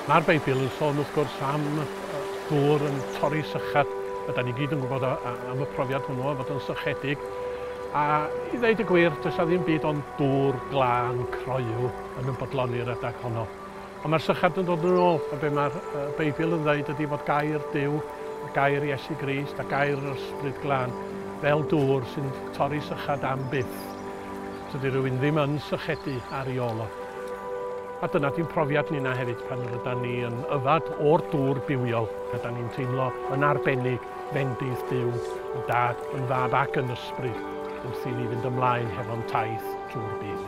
Mae'r Beibl yn sôn wrth gwrs am ddŵr yn torri sychad, a da ni gyd yn gwybod am y profiad hwnnw o fod yn sychedig. A i ddeud y gwir, does 'na ddim byd ond dŵr glân croyw yn ymfodloni'r adeg honno. Ond mae'r sychard yn dod yn ôl, a be mae'r Beibl yn ddweud ydy fod gair Duw, a gair Iesu Grist, a gair yr Ysbryd Glân fel dŵr sy'n torri sychad am byth. Tydi rhywun ddim yn sychedu ar ei ôl o. A dyna di'n profiad ninna hefyd pan rydan ni yn yfad o'r dŵr bywiol, rydan ni'n teimlo yn arbennig fendith Duw, yn Dad, yn Fab ac yn Ysbryd, wrth i ni fynd ymlaen hefo'n taith trwy'r byd.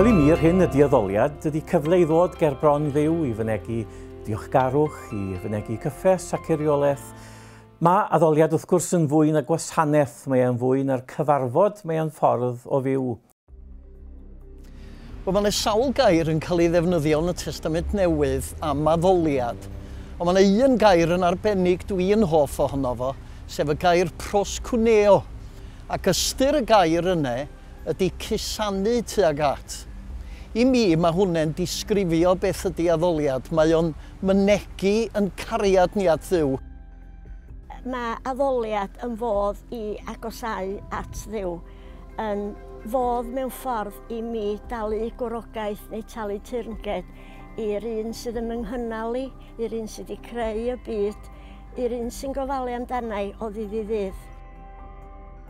Wel i mi yr hyn ydy addoliad ydy cyfle i ddod ger bron Dduw i fynegi diolchgarwch, i fynegi cyffes ac eiriolaeth. Mae addoliad wrth gwrs yn fwy na gwasanaeth, mae e'n fwy na'r cyfarfod, mae e'n ffordd o fyw. Wel mae yna sawl gair yn cael ei ddefnyddio yn y Testament Newydd am addoliad, ond mae yna un gair yn arbennig dwi yn hoff ohono fo, sef y gair proskuneo, ac ystyr y gair yne ydy cusanu tuag at. I mi, mae hwnne'n disgrifio beth ydy addoliad, mae o'n mynegi yn cariad ni at Dduw. Mae addoliad yn fodd i agosáu at Dduw, yn fodd mewn ffordd i mi dalu gwrogaeth neu talu teyrnged i'r un sydd yn fy nghynnal i, i'r un sydd wedi creu y byd, i'r un sy'n gofalu amdana i o ddydd i ddydd.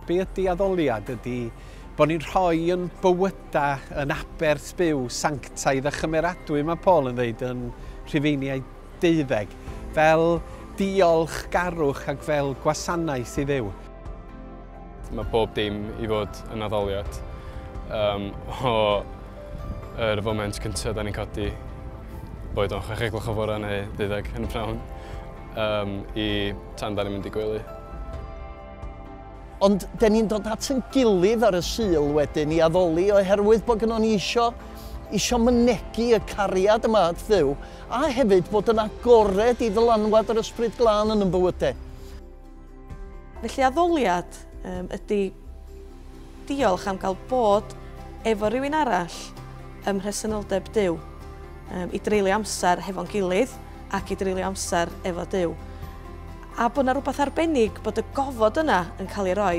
Be ydy addoliad? Ydy bod ni'n rhoi yn bywyda yn aber sbyw sanctaidd a chymeradwy, mae Paul yn ddeud yn Rhufeiniau deuddeg, fel diolch garwch ac fel gwasanaeth i Dduw. Mae pob dim i fod yn addoliad. Um, o yr er foment cyntaf da ni'n codi, boed o'n chwech egloch o fore neu ddeuddeg yn y prawn, um, i tan da ni'n mynd i gwely. Ond dyn ni'n dod at yn gilydd ar y Sul wedyn i addoli oherwydd bod gynnon ni isio, isio mynegi y cariad yma at Dduw, a hefyd bod yn agored i ddylanwad yr Ysbryd Glân yn yn bywydau. Felly addoliad um, ydy diolch am gael bod efo rhywun arall ym mhresenoldeb Duw, um, i dreulio amser hefo'n gilydd ac i dreulio amser efo Duw. A bod 'na rywbeth arbennig bod y gofod yna yn cael ei roi.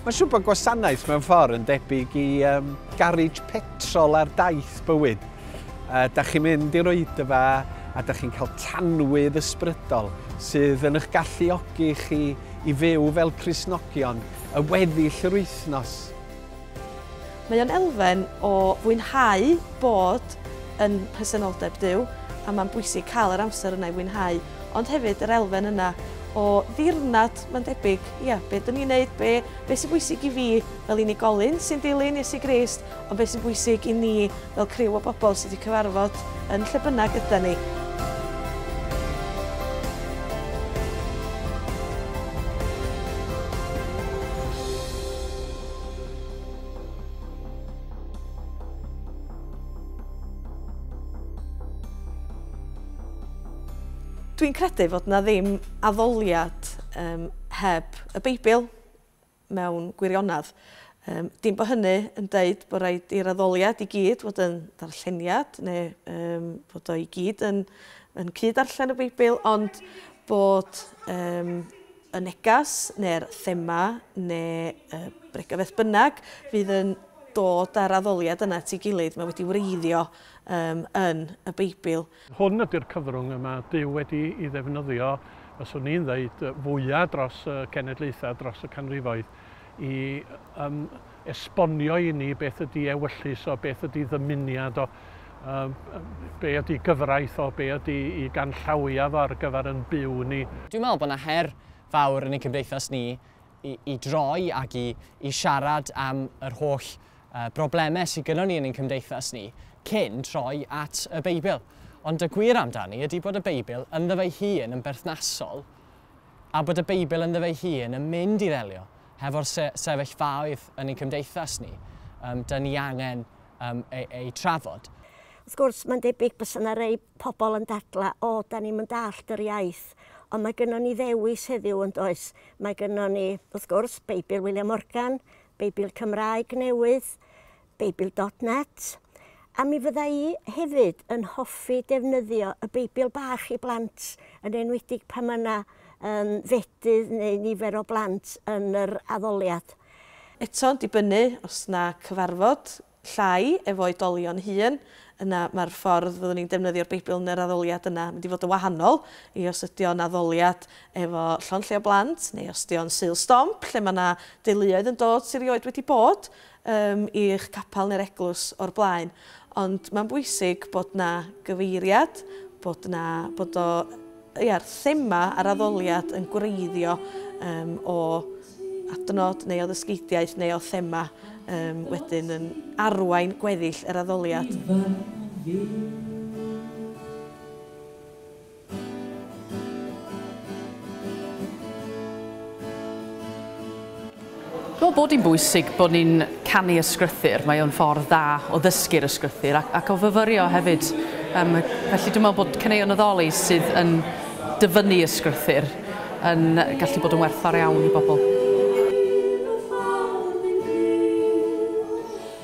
Mae'n siŵr bod gwasanaeth mewn ffordd yn debyg i um, garej petrol ar daith bywyd. Uh, da chi'n mynd i'r oedfa a da chi'n cael tanwydd ysbrydol sydd yn eich galluogi chi i fyw fel Crisnogion y weddill yr wythnos. Mae o'n elfen o fwynhau bod yn presenoldeb Duw, a mae'n bwysig cael yr amser yna i fwynhau, ond hefyd yr elfen yna o ddirnad, mae'n debyg, ia, be dyn ni'n neud, be, be sy'n bwysig i fi fel unigolyn sy'n dilyn Iesu Grist, ond be sy'n bwysig i ni fel criw o bobl sydd wedi cyfarfod yn lle bynnag ydan ni. Dwi'n credu fod na ddim addoliad um, heb y Beibl mewn gwirionedd. Um, dim bod hynny yn dweud bod rhaid i'r addoliad i gyd fod yn ddarlleniad neu um, fod o i gyd yn, yn cyd-arllen y Beibl, ond bod um, y neges neu'r thema neu y bregeth beth bynnag fydd yn dod â'r addoliad yna at ei gilydd, mae wedi wreiddio um, yn y Beibl. Hwn ydy'r cyfrwng y mae Duw wedi i ddefnyddio, fyswn i'n ddeud, fwyaf dros y cenedlaethau, dros y canrifoedd, i um, esbonio i ni beth ydy ewyllys o, beth ydy ddymuniad o, um, be ydy gyfraith o, be ydy i ganllawia fo ar gyfer yn byw ni. Dwi'n meddwl bod yna her fawr yn ein cymdeithas ni i, i droi ac i, i siarad am yr holl uh, broblemau sydd gyda ni yn ein cymdeithas ni cyn troi at y Beibl. Ond y gwir amdani ydy bod y Beibl ynddo fe'i hun yn berthnasol a bod y Beibl ynddo fe'i hun yn mynd i ddelio hefo'r sefyllfaoedd yn ein cymdeithas ni, um, da ni angen um, ei, ei trafod. Wrth gwrs, mae'n debyg bys yna rei pobl yn dadla, o, da ni'n mynd allt yr iaith, ond mae gynnon ni ddewis heddiw yn does. Mae gynnon ni, wrth gwrs, Beibl William Morgan, Beibl Cymraeg newydd, Beibl dot net, a mi fydda i hefyd yn hoffi defnyddio y Beibl bach i blant, yn enwedig pan mae yna um, fedydd neu nifer o blant yn yr addoliad. Eto'n dibynnu os na cyfarfod llai efo oedolion hŷn, yna mae'r ffordd fyddwn ni'n defnyddio'r Beibl yn yr addoliad yna mynd i fod yn wahanol i os ydy o'n addoliad efo llond lle o blant, neu os ydy o'n Sul Stomp, lle mae yna deuluoedd yn dod sydd rioed wedi bod, ym i'ch capel neu'r eglwys o'r blaen, ond mae'n bwysig bod 'na gyfeiriad, bod 'na, bod o, ia'r thema a'r addoliad yn gwreiddio ym o adnod neu o ddysgeidiaeth neu o thema ym wedyn yn arwain gweddill yr addoliad. Dwi'n bod hi'n bwysig bod ni'n canu ysgrythyr, mae o'n ffordd dda o ddysgu'r ysgrythyr ac, ac o fyfyrio hefyd. Um, felly dwi'n meddwl bod caneuon addoli sydd yn dyfynnu ysgrythyr yn gallu bod yn werthfawr iawn i bobl.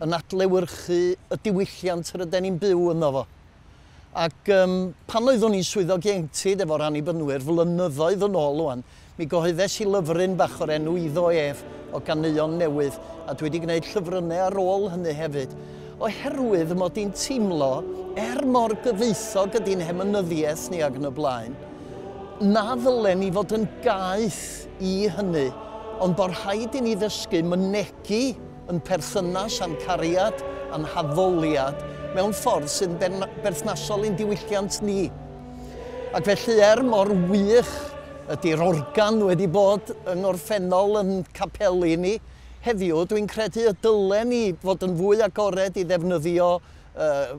yn adlewyrchu y diwylliant ryden ni'n byw ynddo fo. Ac um, pan oeddwn i'n swyddog ieuenctid efo'r anibynwyr flynyddoedd yn ôl o'n, mi gyhoeddes i lyfryn bach o'r enw Iddo Ef o ganeuon newydd, a dwi wedi gwneud llyfrynnau ar ôl hynny hefyd, oherwydd y mod i'n teimlo, er mor gyfoethog ydy'n hemynyddiaeth ni ag yn y blaen, na ddylen ni fod yn gaeth i hynny, ond bod rhaid i ni ddysgu mynegi yn perthynas â'n cariad a'n haddoliad mewn ffordd sy'n berthnasol i'n diwylliant ni. Ac felly, er mor wych ydy'r organ wedi bod yng ngorffennol yn capeli ni heddiw, dwi'n credu y dylen ni fod yn fwy agored i ddefnyddio uh,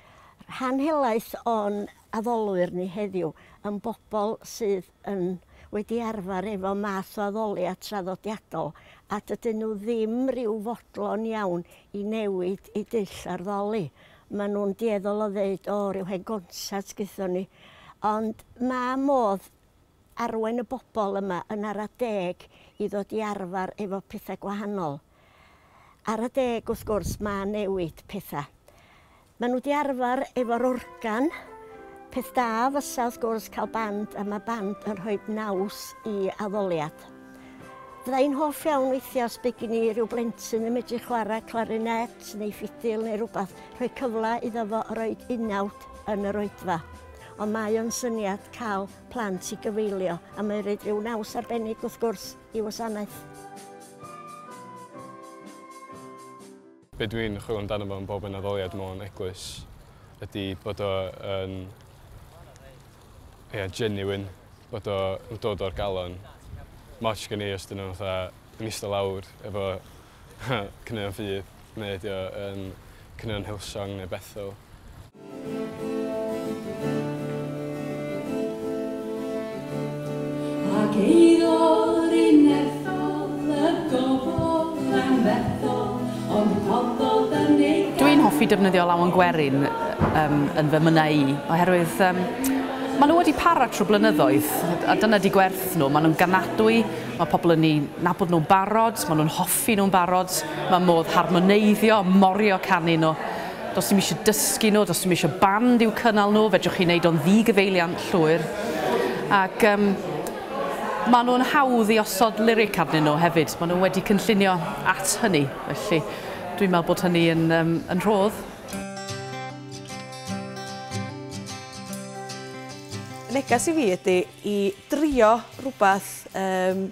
Rhan helaeth o'n addolwyr ni heddiw yn bobl sydd yn wedi arfer efo math o addoliad traddodiadol a dydyn nhw ddim rhyw fodlon iawn i newid eu dull ar ddoli. Maen nhw'n dueddol o ddeud, 'O, rhyw hen gonsat gaethon ni. Ond ma' modd arwain y bobl yma yn ara deg i ddod i arfer efo petha gwahanol. Ar adeg wrth gwrs ma newid petha. Ma nhw di arfar efo'r organ, peth da fysa wrth gwrs cael band a ma band yn rhoid naws i addoliad. Fydda i'n hoff iawn weithia os by gin i ryw blentyn yn medru chwara clarinet neu ffidil neu rwbath, rhoi cyfla iddo fo roid unawd yn yr oedfa. Ond mae o'n syniad cal plant i gyfeilio a mae roid ryw naws arbennig wrth gwrs. i wasanaeth. Be dw i'n chwilio amdano fo yn bob un addoliad mewn eglwys ydy bod o yn yeah, genuine, bod o'n dod o'r galon. Moch gen i os dyn nhw'n fatha yn eistedd lawr efo Caneuon ffydd neu ydi o yn caneuon Hillsong neu Bethel? Ac eiddo'r unethol y gofod yn fethol ond rhoddodd yn ei gael. Dwi'n hoffi defnyddio lawen gwerin um, yn fy mynnau i oherwydd um, maen nhw wedi para trwy blynyddoedd a dyna di gwerth nhw, maen nhw'n ganadwy Mae pobl yn eu nabod nhw'n barod, maen nhw'n hoffi nhw'n barod, mae modd harmoneiddio, morio canu nhw. Does dim eisiau dysgu nhw, does dim eisiau band i'w cynnal nhw, fedrwch chi wneud o'n ddi-gyfeiliant llwyr. Ac um, maen nhw'n hawdd i osod lyric arnyn nhw hefyd, maen nhw wedi cynllunio at hynny, felly dwi'n meddwl bod hynny yn, um, yn rhodd. Neges i fi ydy i drio rhywbeth, yym,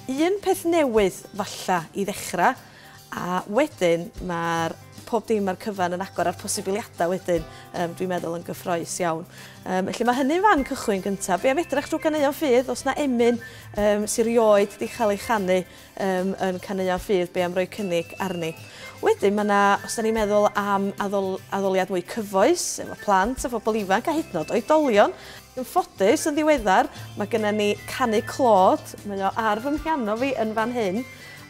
un peth newydd falle i ddechrau, a wedyn mae'r pob dim a'r cyfan yn agor a'r posibiliadau wedyn yym dwi'n meddwl yn gyffroes iawn. Yym felly mae hynny'n fan cychwyn gyntaf. Be' am edrach drw ganeuon ffydd os na emyn yym sy rioed 'di chael ei chanu yym yn caneuon ffydd be am roi cynnig arni. Wedyn mae yna, os da ni'n meddwl am addol, addoliad mwy cyfoes efo plant a phobl ifanc a hyd yn oed oedolion, yn ffodus yn ddiweddar mae gennym ni canu clod, mae o ar fy mhiano fi yn fan hyn,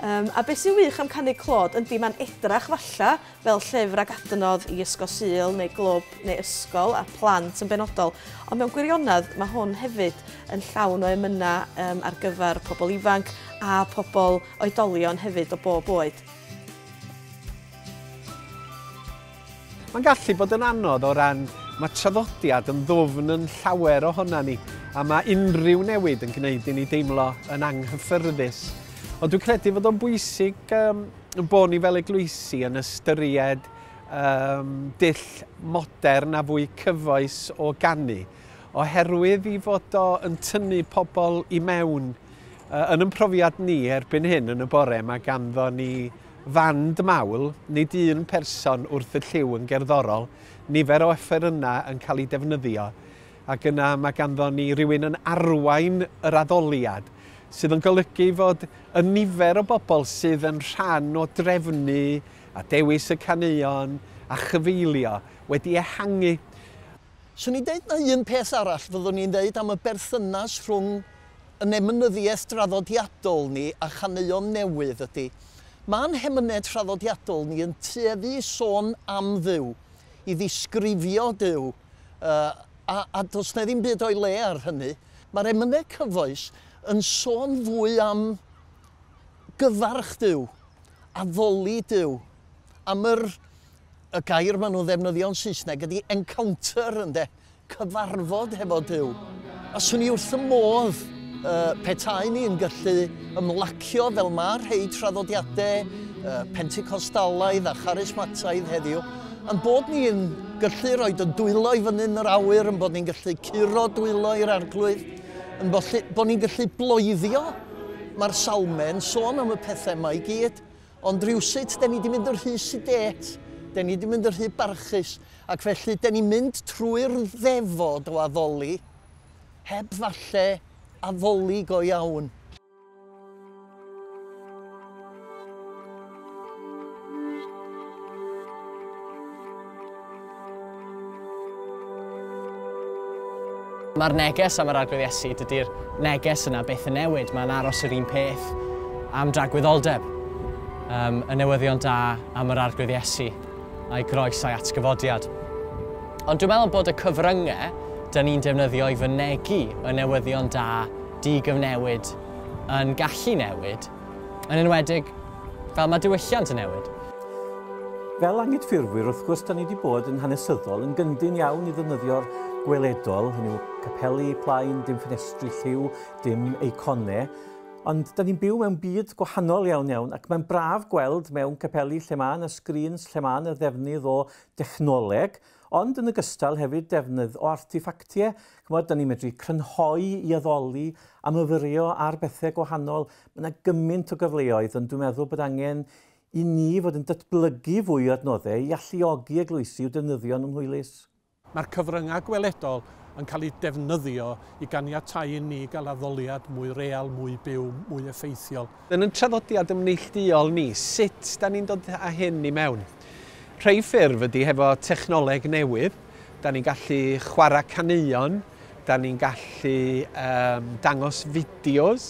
um, a beth sy'n wych am canu clod yndi mae'n edrach falla fel llyfr ag adnodd i Ysgol Sul neu glwb neu ysgol a plant yn benodol, ond mewn gwirionedd mae hwn hefyd yn llawn o emynau um, ar gyfer pobl ifanc a pobl oedolion hefyd o bob oed. Mae'n gallu bod yn anodd o ran mae traddodiad yn ddwfn yn llawer ohona ni a mae unrhyw newid yn gwneud i ni deimlo yn anghyffyrddus. Ond dwi'n credu fod o'n bwysig um, bod ni fel eglwysi yn ystyried um, dull modern a fwy cyfoes o gannu, oherwydd i fod o yn tynnu pobl i mewn uh, yn yn profiad ni erbyn hyn yn y bore mae ganddo ni fand mawl, nid un person wrth y lliw yn gerddorol, nifer o yna yn cael ei defnyddio. Ac yna mae ganddon ni rywun yn arwain yr addoliad, sydd yn golygu fod y nifer o bobl sydd yn rhan o drefnu a dewis y caneuon a chyfeillio wedi ehangu. Swn i'n deud na un peth arall fyddwn i'n ddeud am y berthynas rhwng yn emynyddiaeth draddodiadol ni a chaneuon newydd ydy, ma'n hemynedd traddodiadol ni yn tueddu i sôn am Dduw, i ddisgrifio Duw, a, a does na ddim byd o'i le ar hynny. Mae'r emynau cyfoes yn sôn fwy am gyfarch Duw, addoli Duw, am yr, y gair maen nhw'n ddefnyddio'n Saesneg ydy encounter, ynde, cyfarfod hefo Duw. A 'swn i wrth fy modd petaen i'n gallu ymlacio fel mae rhei traddodiadau Pentecostalaidd a Charismataidd heddiw, ein bod ni yn gallu rhoi y dwylo i fyny yn yr awyr, yn bod ni'n gallu curo dwylo i'r arglwydd, yn bod ni'n gallu bloeddio. Mae'r salmau'n sôn am y pethau yma i gyd. Ond rywsut 'den ni 'di mynd yn rhy sidêt, 'den ni 'di mynd yn rhy barchus, ac felly 'den ni'n mynd trwy'r ddefod o addoli, heb falle addoli go iawn. Mae'r neges am yr Arglwydd Iesu, dydy'r neges yna byth yn newid, mae'n aros yr un peth am dragwyddoldeb. Um, y newyddion da am yr Arglwydd Iesu, a'i groes a'i atgyfodiad. Ond dwi'n meddwl bod y cyfryngau dyn ni'n defnyddio i fynegu y newyddion da di-gyfnewid yn gallu newid Yn enwedig, fel mae diwylliant yn newid. Fel anghydffurfwyr, wrth gwrs, da ni wedi bod yn hanesyddol, yn gyndyn iawn i ddefnyddio'r gweledol, hynny yw capeli, plaen, dim ffenestri, lliw, dim eiconau, ond da ni'n byw mewn byd gwahanol iawn iawn ac mae'n braf gweld mewn capeli lle mae yna sgrîns, lle mae yna ddefnydd o dechnoleg, Ond yn ogystal hefyd defnydd o arteffactie, ch'mod, 'dan ni'n medru crynhoi i addoli a myfyrio ar bethe gwahanol. Ma' 'na gymaint o gyfleoedd ond dwi'n meddwl bod angen i ni fod yn datblygu fwy o adnodde i alluogi eglwysi i'w defnyddio yn ymhwylus. Mae'r cyfryngau gweledol yn cael eu defnyddio i ganiatáu i ni gael addoliad mwy real, mwy byw, mwy effeithiol. Yn ein traddodiad yn neillduol ni, sut da ni'n dod â hyn i mewn? Rhei ffurf ydy hefo technoleg newydd, da ni'n gallu chwarae caneuon, da ni'n gallu um, dangos fideos,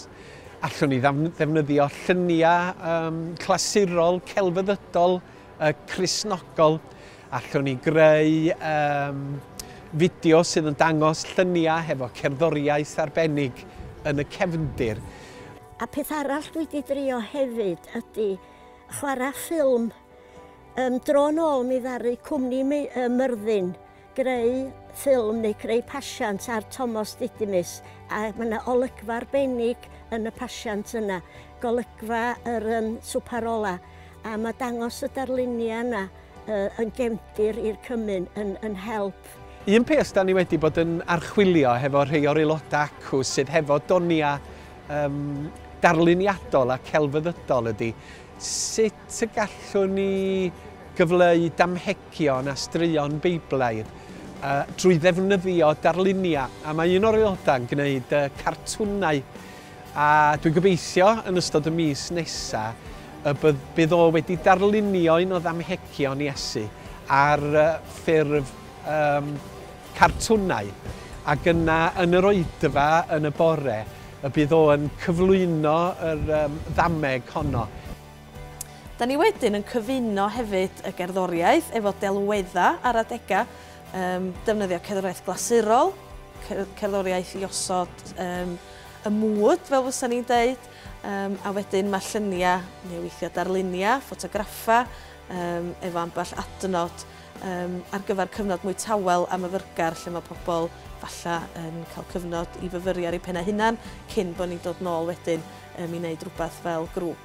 allwn ni ddefnyddio lluniau um, clasurol, celfyddydol, uh, crisnogol, allwn ni greu um, fideo sydd yn dangos lluniau hefo cerddoriaeth arbennig yn y cefndir. A peth arall dwi 'di drio hefyd ydi chwara ffilm. Yym dro nôl mi ddaru cwmni mi- yy Myrddin greu ffilm neu creu pasiant ar Tomos Didymus a ma' 'na olygfa arbennig yn y pasiant yna, golygfa yr yym swpar ola, a ma' dangos y darlunia yna yn gefndir i'r cymun yn yn help. Un peth da ni wedi bod yn archwilio hefo rhei o'r aelodau acw sydd hefo donia um, darluniadol a celfyddydol ydy sut y gallwn ni gyfleu damhegion a straeon Beiblaidd uh, drwy ddefnyddio darluniau a mae un o'r aelodau yn gwneud uh, cartwnau A dwi'n gobeithio yn ystod y mis nesa y bydd o wedi darlunio un o ddamhegion Iesu ar ffurf um, cartwnau. Ac yna yn yr oedfa yn y bore y bydd o yn cyflwyno yr um, ddameg honno. Da ni wedyn yn cyfuno hefyd y gerddoriaeth efo delweddau ar adegau Yym, defnyddio cerddoriaeth glasurol, cerddoriaeth i osod yym, y mwd, fel fysa ni'n deud, um, a wedyn mae lluniau neu weithiau darluniau, ffotograffa, um, efo ambell adnod um, ar gyfer cyfnod mwy tawel a myfyrgar lle mae pobl falle yn cael cyfnod i fyfyri ar eu pennau hunan cyn bod ni'n dod nôl wedyn um, i wneud rhywbeth fel grŵp.